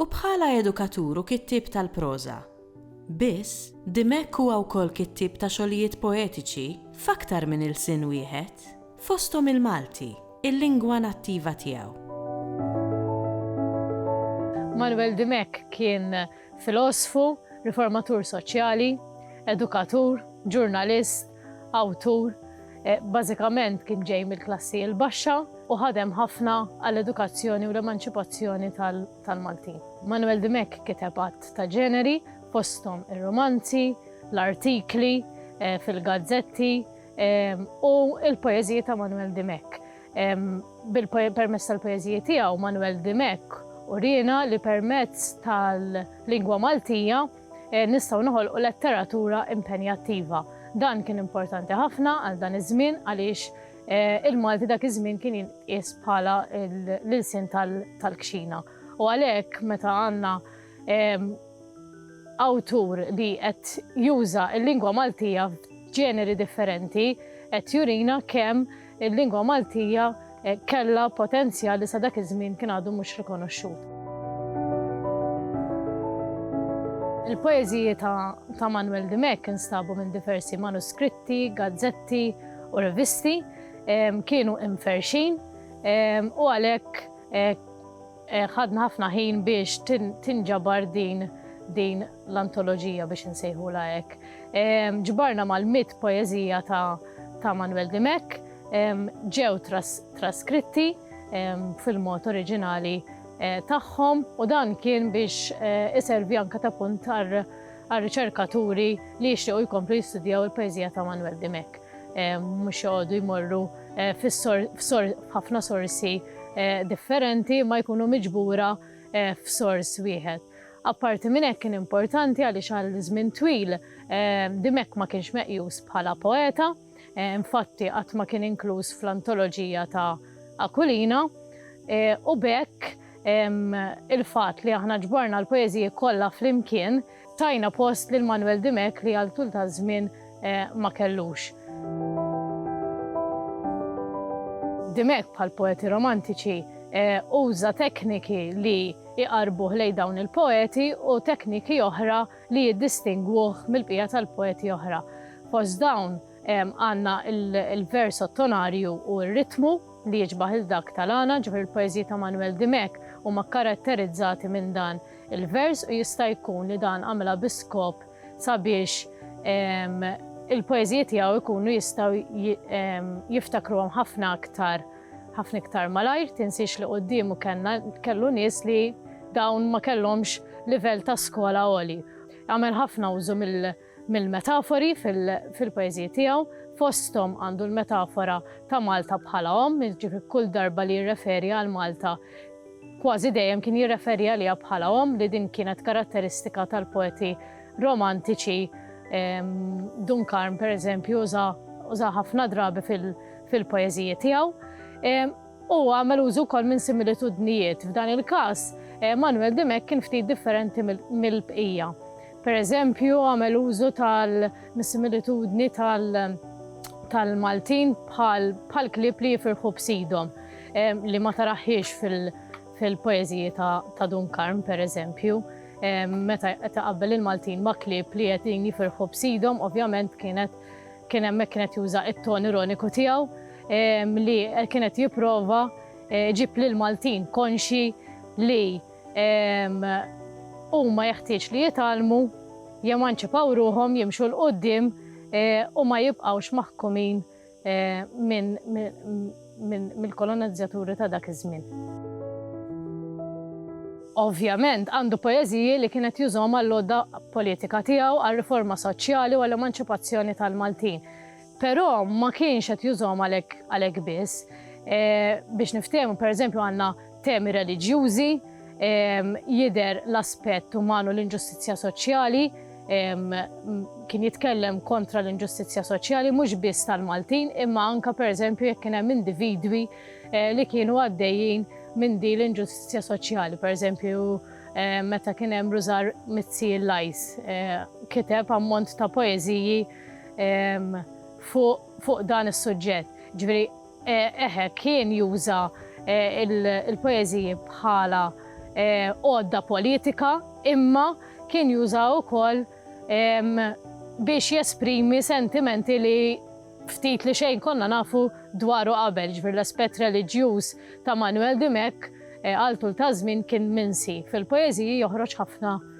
U bħala edukatur u kittieb tal-proża biss, Dimech huwa wkoll kittieb ta' xogħlijiet poetiċi f'aktar minn ilsien wieħed, fosthom il-Malti, il-lingwa nattiva tiegħu. Manuel Dimech kien filosfu, riformatur soċjali, edukatur, ġurnalist, Awtur bażikament kien ġej mill-klassi l-baxxa u ħadem ħafna għall-edukazzjoni u l-emanċipazzjoni tal-Maltin. Manwel Dimech kiteb għadd ta' ġeneri, fosthom ir-rumanzi, l-artikli fil-gazzetti u l-poeżiji ta' Manwel Dimech. Permezz tal-poeżiji tiegħu Manwel Dimech uriena li permezz tal-lingwa Maltija, nistgħu noħolqu letteratura impenjattiva. Dan kien importanti ħafna għal dan iż-żmien għaliex il-Malti dak iż-żmien kien jinqies bħala l-ilsien tal-kxina. U għalhekk meta għandna awtur li qed juża l-lingwa Maltija f'ġeneri differenti qed jurina kemm Il-lingwa Maltija kellha potenzjal li sa dak iż-żmien kien għadu mhux rikonoxxut. Il-poeżiji ta' Manwel Dimech instabu minn diversi manuskritti, gazzetti u rivisti, kienu imferrxin u għalhekk Ħadna ħafna ħin biex tinġabar din din l-antoloġija biex insejħulha hekk. Ġbarna mal-mitt poeżija ta' ta' Manuel Dimech, ġew traskritti fil-mod oriġinali tagħhom u dan kien biex iservi anke ta' punt għar-riċerkaturi li jixtiequ jkomplu jistudjaw il-poeżija ta' Manuel Dimech. mhux joqogħdu jmorru f'ħafna sorsi differenti ma jkunu miġbura f'sors wieħed. Apparti minn hekk kien importanti għaliex għal żmien twil Dimech ma kienx meqjus bħala poeta, infatti qatt ma kien inkluż fl-antoloġija ta' Aquilina, u b'hekk il-fatt li aħna ġborna l-poeżiji kollha flimkien, Tajna post lil Manuel Dimech li għal tul ta' żmien ma kellux. Dimech bħal poeti romantiċi uża tekniki li iqarbuh lejn dawn il-poeti u tekniki oħra li jiddistingwuh mill-bqija tal-poeti oħra. Fost dawn għandna l-vers ottonarju u r-ritmu li jiġbah lil dak tal-għana, ġifieri l-poeżiji ta' Manuel Dimech huma kkaratterizzati minn dan il-vers u jista' jkun li dan għamilha bi skop sabiex il-poeżiji tiegħu jkunu jistgħu jiftakruhom ħafna aktar ħafna iktar malajr, tinsiex li quddiemu kellna kellu nies li dawn ma kellhomx livell ta' skola għoli. Għamel ħafna użu mill- mill-metafori fil-poeżiji tiegħu, fosthom għandu l-metafora ta' Malta bħala omm, jiġifieri kull darba li jirreferi għal Malta kważi dejjem kien jirreferi għaliha bħala omm li din kienet karatteristika tal-poeti romantiċi, Dun Karm pereżempju użaha ħafna drabi fil-poeżiji tiegħu. U għamel użu wkoll minn similitudnijiet, f'dan il-każ Manuel Dimech kien ftit differenti mill-bqija. Per eżempju, għamel użu tal-similitudni tal-Maltin bħal klieb li jifirħu b'sidhom, li ma taraħhiex fil-poeżiji ta' Dun Karm, per eżempju, meta qed iqabbel il-Maltin ma' klieb li qegħdin jifirħu b'sidhom, ovvjament kienet kien hemmhekk kien qed juża t-ton ironiku tiegħu li kien qed jipprova jġib lill-Maltin konxji li Huma jeħtieġ li jitgħallmu, jemanċipaw ruħhom, jimxu 'l quddiem u ma jibqgħux maħkumin mill-kolonizzjaturi ta' dak iż-żmien. Ovvjament, għandu poeżiji li kien qed jużhom għall-għodda politika tiegħu, għar-riforma soċjali u għall-emanċipazzjoni tal-Maltin. Però ma kienx qed jużahom għalhekk għalhekk biss. Biex niftehmu, pereżempju għandna temi reliġjużi, jidher l-aspett uman u l-inġustizzja soċjali, kien jitkellem kontra l-inġustizzja soċjali mhux biss tal-Maltin imma anke pereżempju jekk kien hemm individwi li kienu għaddejjin minn din l-inġustizzja soċjali. Pereżempju meta kien hemm Rużar Mizzi Lajs kiteb ammont ta' poeżiji fuq dan is-suġġett. Ġifieri eħe kien juża l-poeżiji bħala għodda politika imma kien juża wkoll biex jesprimi sentimenti li ftit li xejn konna nafu dwaru qabel, ġifieri l-aspett reliġjuż ta' Manwel Dimech għal tul ta' żmien kien minsi. Fil-poeżiji joħroġ ħafna